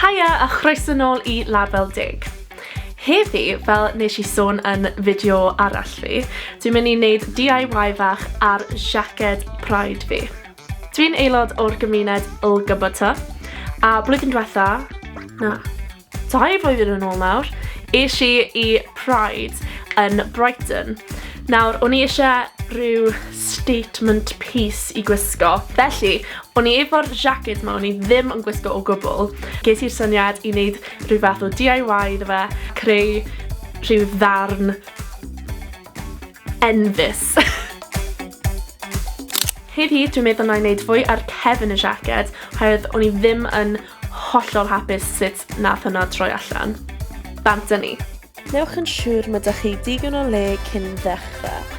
Haia a chroeso nôl i Label Deg. Heddi, fel nes i sôn yn fideo arall fi, dwi'n mynd i wneud DIY fach ar siaced Pride fi. Dwi'n aelod o'r gymuned LGBT, a blwyddyn diwetha, na, dau flwyddyn yn ôl nawr, eisiau i i Pride yn Brighton. Nawr, o'n i eisiau rhyw statement piece i gwisgo. Felly, O'n i efo'r jacket 'ma o'n i ddim yn gwisgo o gwbl. Ges i'r syniad i wneud rhyw fath o DIY iddo fe, creu rhyw ddarn enfys. Heddi dwi'n meddwl na i wneud fwy ar cefn y jacket, oherwydd o'n i ddim yn hollol hapus sut nath hwnna troi allan. Bant â ni. Newch yn siŵr mae 'da chi digon o le cyn ddechrau.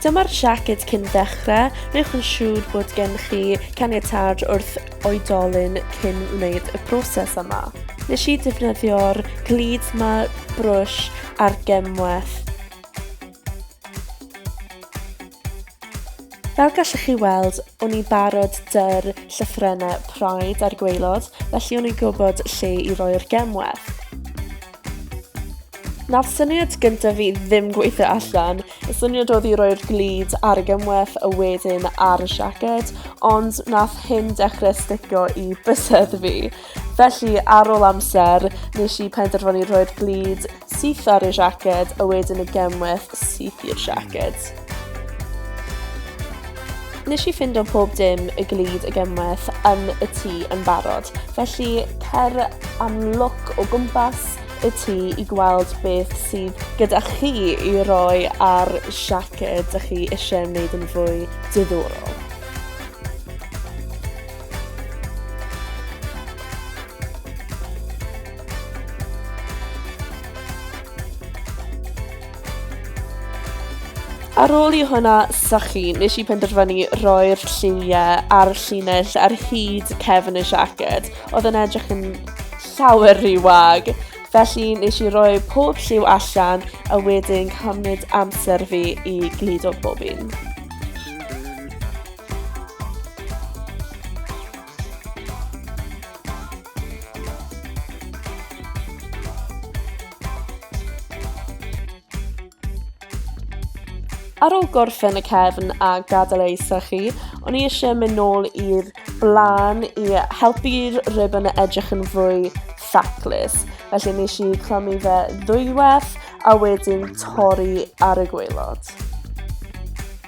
Dyma'r siaced cyn ddechrau, newch yn siŵr bod gen chi caniatâd wrth oedolyn cyn wneud y broses yma. Nes i defnyddio'r glud 'ma, brwsh a'r gemwaith. Fel gallwch chi weld, o'n i'n barod dy'r llythrennau Pride a'r gweilod, felly o'n i'n gwybod lle i roi'r gemwell. Na'r syniad gyntaf fi ddim gweithio allan. Y syniad oedd i roi'r glid ar y gemwell a wedyn ar y siaced, ond nath hyn dechrau sticio i bysedd fi. Felly, ar ôl amser, nes i penderfynu rhoi'r glid Syth ar y siaced a wedyn y gemwaith syth i'r siaced. Nes i ffind o pob dim y glid y gemwaith yn y tŷ yn barod, felly cer am look o gwmpas y tŷ i gweld beth sydd gyda chi i roi ar siaced dych chi eisiau wneud yn fwy diddorol. Ar ôl i hwnna sychu, nes i penderfynu roi'r lliwiau a'r llinell ar hyd cefn y siaced, oedd yn edrych yn llawer rhy wag. Felly nes i roi pob lliw allan a wedyn cymryd amser fi i gludo bob un. Ar ôl gorffen y cefn a gadael ei sychu, o'n i eisiau mynd nôl i'r blaen i helpu'r ribbon a edrych yn fwy ffaclus. Felly nes i clymu fe ddwywaith a wedyn torri ar y gweilod.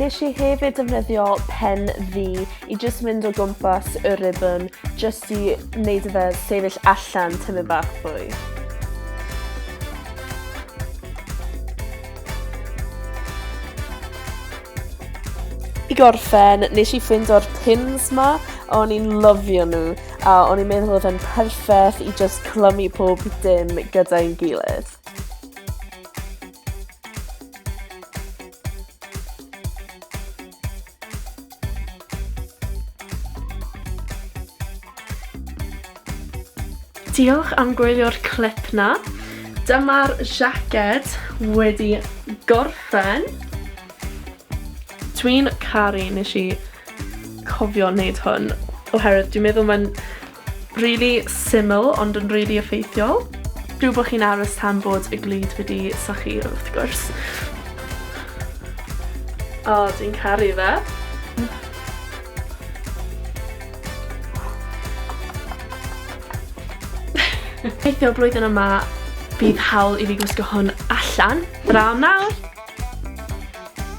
Nes i hefyd defnyddio pen fi i jyst mynd o gwmpas y ribbon jyst i wneud y fe sefyll allan tymyn bach fwy. I gorffen, nes i ffind o'r pins ma, o'n i'n lyfio nhw, a o'n i'n meddwl oedd e'n perffaith i just clymu pob dim gyda'n gilydd. Diolch am gwylio'r clip na. Dyma'r jacket wedi gorffen. Dwi'n caru nes i cofio wneud hwn, oherwydd dwi'n meddwl mae'n Rili syml ond yn rili effeithiol. Rhyw bo' chi'n aros tan bod y glud wedi sychu wrth gwrs. O, dwi'n caru fe. Gobeithio blwyddyn yma bydd hawl i fi gwisgo hwn allan. Draw nawr!